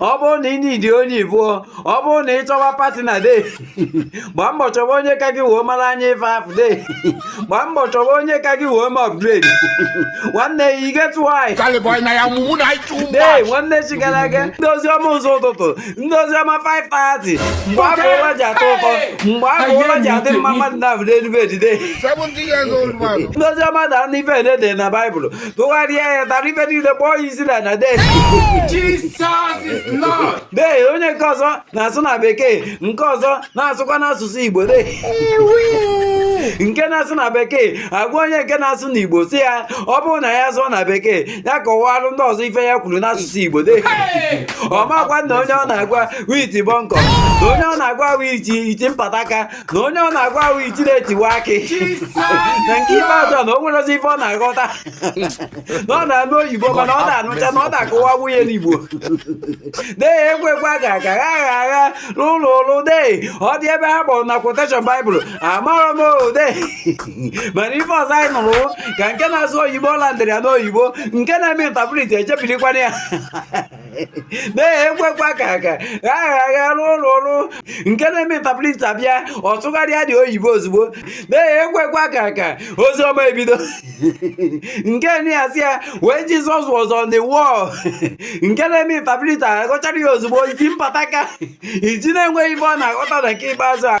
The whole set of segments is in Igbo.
ọ bụrụ na ị need onye ibụọ ọ bụrụ na ị chọwa partner de gbaa mbọ chọwa onye ka gị wee mara anya ife afụ de gbaa mbọ chọwa onye ka gị wee ma upgrade nwanne ya igetu nwanyị de nwanne chi gara aga ndị oziọma ụzọ ụtụtụ ndị oziọma 5:30 mgbe afụ ụla ji atọ ụtọ mgbe afụ ụla ji adị mma mmadụ na-abụ n'elu bed de ndị oziọma dara n'ife ede na baịbụl tụgharịa ya tara ife niile kpọọ ya isi n'ala dee dee onye nke ọzọ na-asụ na bekee nke ọzọ na-asụkwa n'asụsụ igbo dee nke na-asụ na bekee agwa onye nke na-asụ na igbo sị ya ọ bụrụ na ya sụọ na bekee ya kọwalụ ndị ọzọ ife ya kwuru n'asụsụ igbo dee ọ makwa na onye ọ na-agwa wụ iti bọnkọ na onye ọ na-agwa wụ iti mpataka na onye ọ na-agwa wụ iti na-etiwa akị na nke ikpeazụ a na o nwerozi ife ọ na-aghọta na ọ na-anụ oyibo mana ọ na-anụcha na ọ na-akọwa bunye n'igbo dee ekwekwa ga aga gha agha agha n'ụlọ ụlụ dee ọ dị ebe ha kpọrọ na quotation baịbụl amarọ m o dee mana ife ọzọ anyị nụrụ ka nke na-asụ oyibo landịrị ya n'oyibo nke na-eme interpreter echebirikwanụ ya dee ekwekwa ka ka agha agha n'ụlọ ọrụ nke na-eme interpreter bịa ọ tụgharịa dị oyibo ozugbo dee ekwekwa ka ka ozi ọma ebido nke na-asị ya when jizọs was on the wall nke na-eme interpreter aghọchara ya ozugbo iti mpataka iti na-enweghị ife ọ na-aghọta na nke ikpeazụ a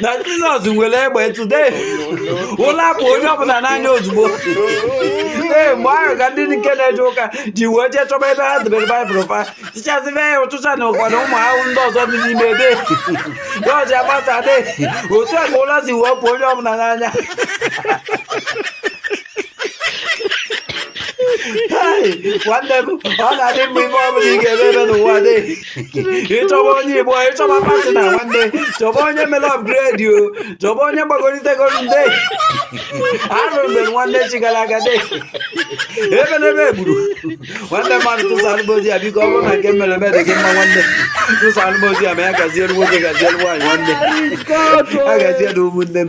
na jizọs nwere egbe ntụ de ụla apụ onye ọbụla n'anya ozugbo ee mgbe ahụ ka ndị nke na-eje ụka ji wee jee chọba ebe ha debere baịbụl fa tichasịbe ya ụchịcha na ụkwa na ụmụ ahụhụ ndị ọzọ dị n'ime ebe ya ọji agbasa de otu a ka ụla si wee pụọ onye ọbụla n'anya Hey, nwanne m ọ na-adị mma ife ọbụla ị ga-eme ebe n'ụwa de ị chọba onye ibụọ ị chọba partner nwanne chọba onye mere upgrade o chọba onye gbagolitegoro nde arụ mgbe nwanne chi gara aga de ebe n'ebe egburu nwanne mmadụ tụsa alụbozi ya biko ọ bụrụ na nke mere eme dị gị mma nwanne tụsa alụbozi ya ma ya gaziere nwoke gaziere nwaanyị nwanne a gaziere ụmụnne m